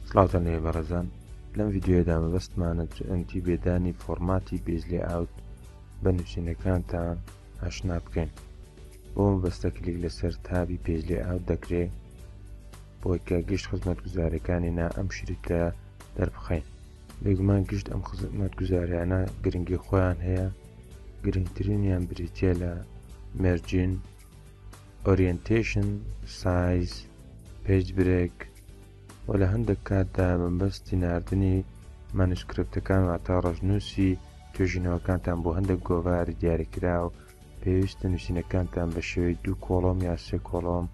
سڵاوتان لێبێ بەڕێزان لەم ڤیددیوەدا مەبەستمانە GNT بێدانی فۆرماتی بێژ لێ ئاوت بە نووسینەکانتان ئاشنا بکەین بۆ مەبەستە کلیک لەسەر تابی پێش لێ ئاوت دەکرێت بۆی کە گشت خزمەت گوزارەکانی نا ئەم شریتە دەربخەین بێگومان گشت ئەم خزمەت گوزاریانە گرنگی خۆیان هەیە گرنگترینیان بریتە لە مەرجین ئۆریەنتەیشن، سایز، پەیج برێک، و لە هەندێک کاتدا بە مەبەستی ناردنی مانوسکرپتەکان واتە ڕەشنووسی توێژینەوەکانتان بۆ هەندێک گۆڤاری دیاریکراو پێویستە نووسینەکانتان بە شێوەی دوو کۆڵۆم یا سێ کۆڵۆم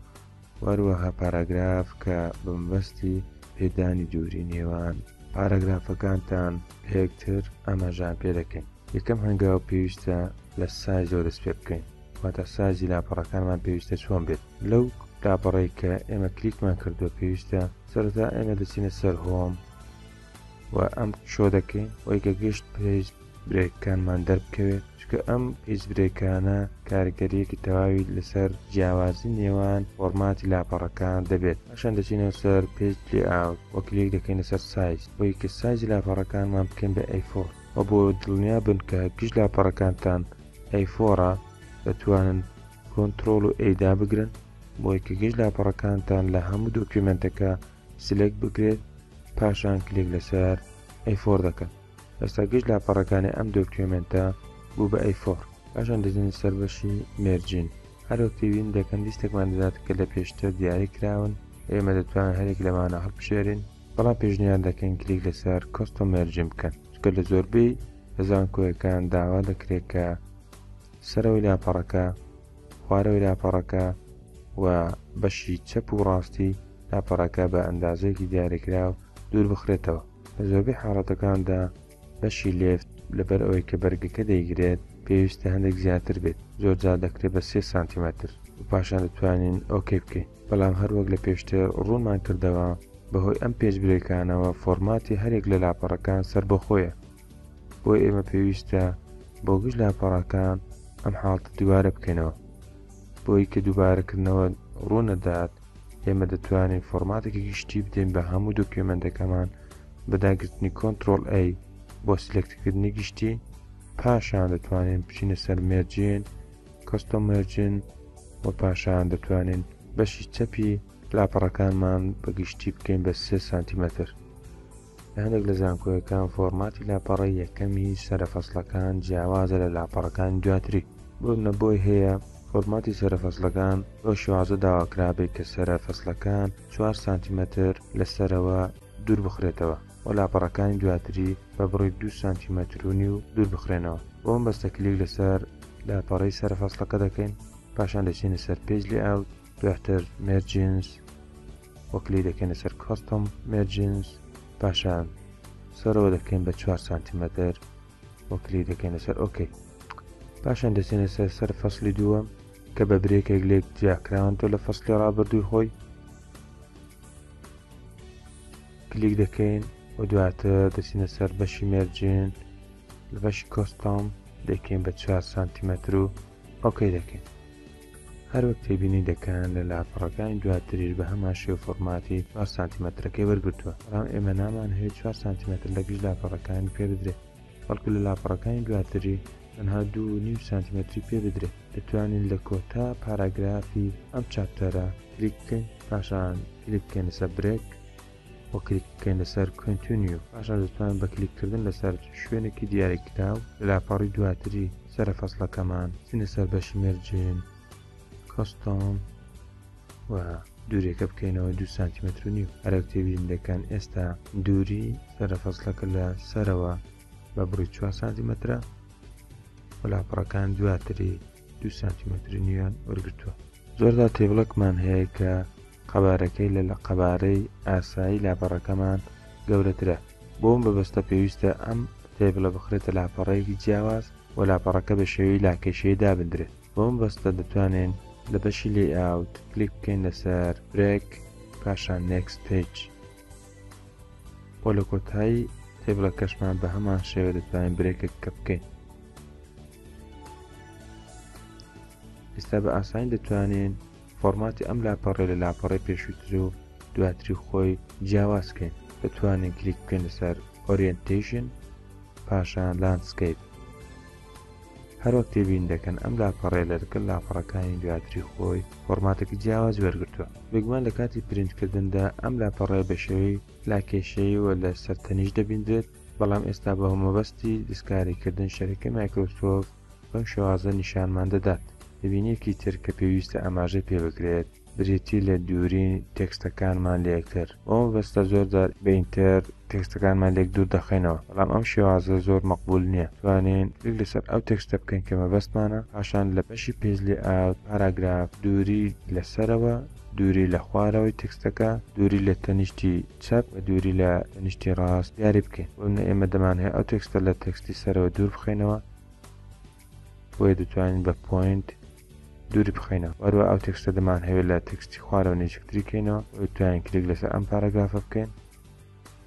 و هەروەها پاراگراف کە بە مەبەستی پێدانی دووری نێوان پاراگرافەکانتان لە یەکتر ئاماژەیان پێ دەکەین یەکەم هەنگاو پێویستە لە سایزەوە دەست پێ بکەین واتە سایزی لاپەڕەکانمان پێویستە چۆن بێت لەو لاپەڕەی کە ئێمە کلیکمان کردووە پێویستە سەرەتا ئێمە دەچینە سەر هۆم و ئەم شۆ دەکەین وەی کە گشت پێج برێکەکانمان دەربکەوێت چکە ئەم هیچ برێکانە کارگەریەکی تەواوی لەسەر جیاوازی نێوان فۆرماتی لاپەڕەکان دەبێت ئەشان دەچینەوە سەر پێج لێ ئاو وەکلێک دەکەین لەسەر سایز بۆی کە سایزی لاپەڕەکانمان بکەین بە ئەیفۆر و بۆ دڵنیا بن کە گشت لاپەڕەکانتان ئەیفۆڕا دەتوانن کۆنتڕۆڵ و ئەی دابگرن بۆی کە گشت لاپەڕەکانتان لە هەموو دۆکیومێنتەکە سلێکت بکرێت پاشان کلێک لەسەر ئەیفۆڕ دەکەن ئێستا گشت لاپەڕەکانی ئەم دۆکیومێنتە بوو بە ئەیفۆڕ پاشان دەزین سەر بەشی مێرجین هەروەک تێبین دەکەن لیستێکمان دەدات کە لە پێشتر دیاری کراون ئێمە دەتوانن هەرێک لەمانە هەڵبژێرین بەڵام پێشنیار دەکەین کلیک لەسەر کۆستۆ مێرجین بکەن چکە لە زۆربەی لە زانکۆیەکان داوا دەکرێت کە سەرەوەی لاپەڕەکە، خوارەوەی لاپەڕەکە و بەشی چەپ و ڕاستی لاپەڕەکە بە ئەندازەیەکی دیاریکراو دوور بخرێتەوە. لە زۆربەی حاڵەتەکاندا بەشی لێفت لەبەر ئەوەی کە بەرگەکە دەیگرێت پێویستە هەندێک زیاتر بێت، زۆرجار دەکرێت بە سێ سانتیمەتر و پاشان دەتوانین ئۆکەی بکەین. بەڵام هەروەک لە پێشتر ڕوونمان کردەوە بەهۆی ئەم پێشبرێکانەوە فۆرماتی هەرێک لە لاپەڕەکان سەربەخۆیە بۆیە ئێمە پێویستە بۆ گشت لاپەڕەکان ئەم حاڵتە دووبارە بکەینەوە بۆی کە دووبارەکردنەوە ڕوونەدات ئێمە دەتوانین فۆرماتێکی گشتی بدەین بە هەموو دۆکیومنتەکەمان بەداگرتنی کۆنتترۆل ئەی بۆ سلکتکردنی گشتی پاشان دەتوانین بچینە سەر مێرجین کەستۆمەرجین وە پاشان دەتوانین بەشی چەپی لاپەڕەکانمان بە گشتی بکەین بە سێ سانتیمەتر لە هەندێک لە زانکۆیەکان فۆرماتی لاپەڕە یەکەمی سەرە فەسلەکان جیاوازە لە لاپەڕەکان دواتری بۆ نەبۆی هەیە فۆرماتی سەرە فەسلەکان بۆ شوازە داواکرابێت کە سەرە فەسلەکان 4 سانتیمەتر لە سەرەوە دوور بخرێتەوە و لاپەڕەکانی دواتری بە بڕی دوو سانتیمەتر و نیو دوور بخرێنەوە بۆ ئەم بەستە کلیک لەسەر لاپەڕەی سەرە فەسڵەکە دەکەین پاشان دەچینە سەر پێج لێ ئاوت دواتر مێرجینس وەکلی دەکەینە سەر کۆستم مێرجینس پاشان سەرەوە دەکەین بە 4 سانتیمەتر وەکلی دەکەینە سەر ئۆکەی پاشان دەچێنە سەر سەر فەصلی دووە کە بە برێکێک لێک جیاکراون تۆ لە فەصلی ڕابردووی خۆی کلیک دەکەین و دواتر دەچینە سەر بەشی مێرجین لە بەشی کۆستۆم دەکەین بە 4 سانتیمەتر و ئۆکەی دەکەین هەروەک تێبینی دەکەن لە لاپەڕەکانی دواتریش بە هەمان شێو فۆرماتی 4 سانتیمەترەکەی وەرگتووە بەڵام ئێمە نامان هەیە 4 سانتیمەتر لە گشت لاپەڕەکانی پێ بدرێت بەڵکو لە لاپەڕەکانی دواتری تەنها دوو و نیو سانتیمەتری پێ بدرێت دەتوانین لە کۆتا پاراگرافی ئەم چاپتەرە کلیک بکەین پاشان کلیک بکەین لەسەر برێک و کلیک بکەین لەسەر کۆنتونیو پاشان دەتوانین بە کلیککردن لەسەر شوێنێکی دیاری کراو لاپەڕی دواتری سەرە فەصلەکەمان چینە سەر بەشی مەرجێن کۆستۆم و دوورێکە بکەینەوە دو سانتیمەتر و نیو ئەرەو تێبین دەکەن ئێستا دووری سەرە فەسلەکە لە سەرەوە بە بڕی 4 سانتیمەترە وەلاپەڕەکان دواتری دو سانتیمەتر نیوان وەرگتووە زۆردا تێبڵکمان هەیە کە قەبارەکەی لە لە قەبارەی ئاسایی لاپەڕەکەمان گەورەترە بۆم بەبستە پێویستە ئەم تێبلە بخرێتە لاپەڕەیەکی جیاواز و لاپەڕەکە بە شێوی لاکێشەیە دابدرێت بۆ مەبەستە دەتوانین لە بەشی Layout کلیک بکەین لەسەر Break پاشان Next Page بۆ لە کۆتایی تێبڵەکەشمان بە هەمان شێوە دەتوانین برێکێک کە بکەین ئێستا بە ئاسانی دەتوانین فۆرماتی ئەم لاپەڕێ لە لاپەڕی پێشووتر و دواتری خۆی جیاوازکەین دەتوانین کلیک بکەین لەسەر ئۆریەنتیشن پاشان لاندسکیپ هەروەک تێبین دەکەن ئەم لاپەڕەیە لە لەگەڵ لاپەڕەکانی دواتری خۆی فۆڕماتێکی جیاواز وەرگرتووە بێگومان لە کاتی پرینتکردندا ئەم لاپەڕەیە بە شێوەی لاکێشەیی و لە سەر تەنیشت دەبیندرێت بەڵام ئێستا بە هۆمەبەستی دەستکاریکردن شەرەکەی مایکرۆسۆفت بەم شێوازە نیشانمان دەدات تێبینیەکی تر کە پێویستە ئاماژەی پێبکرێت بریتی لە دووری تێکستەکانمان لە یەکتر. بەو مەبەستە زۆر جار بە ئینتەر تێکستەکانمان لێک دوور دەخەینەوە، بەڵام ئەم شێوازە زۆر مەقبوول نییە. توانین کلیک لەسەر ئەو تێکستە بکەین کە مەبەستمانە، پاشان لە بەشی Page Layout، پاراگراف، دووری لە سەرەوە، دووری لە خوارەوەی تێکستەکە، دووری لە تەنیشتی چەپ و دووری لە تەنیشتی ڕاست دیاری بکەین. بۆنمونە ئێمە دەمانهەیە ئەو تێکستە لە تێکستی سەرەوە دوور بخەینەوە، بۆیە دەتوانین بە Point دووری بخەینەوە وەروە ئەو تێکستە دەمان هەوێت لە تێکستی خوارەوە نێچکتری کەینەوە بۆی توانین کلیک لەسەر ئەم پارەگافە بکەین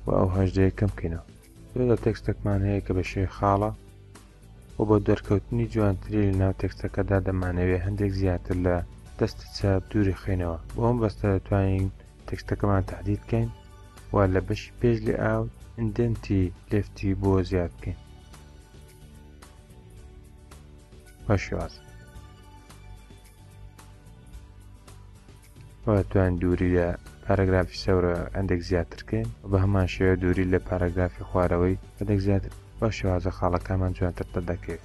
و ئەو هەژدەیە کەم بکەینەوە لە تێکستەکمان هەیە کە بە شێوی خاڵە و بۆ دەرکەوتنی جوانتری لە ناو تێکستەکەدا دەمانەوێت هەندێک زیاتر لە دەستی چاپ دووری خینەوە بۆ ئەم بەستە دەتوانین تێکستەکەمان تهدید بکەین و لە بەشی پێش لێ ئاو ئندنتی لفتی بۆ زیاد بکەین بە شێوازە توان دووری لە پاراگرافی سەورە ئەندێک زیاترکەین بە هەمان شێوە دووری لە پاراگرافی خوارەوەی هەندێک زیاتر بە شێوازە خاڵەکانمان جوانتر دەردەکەوێت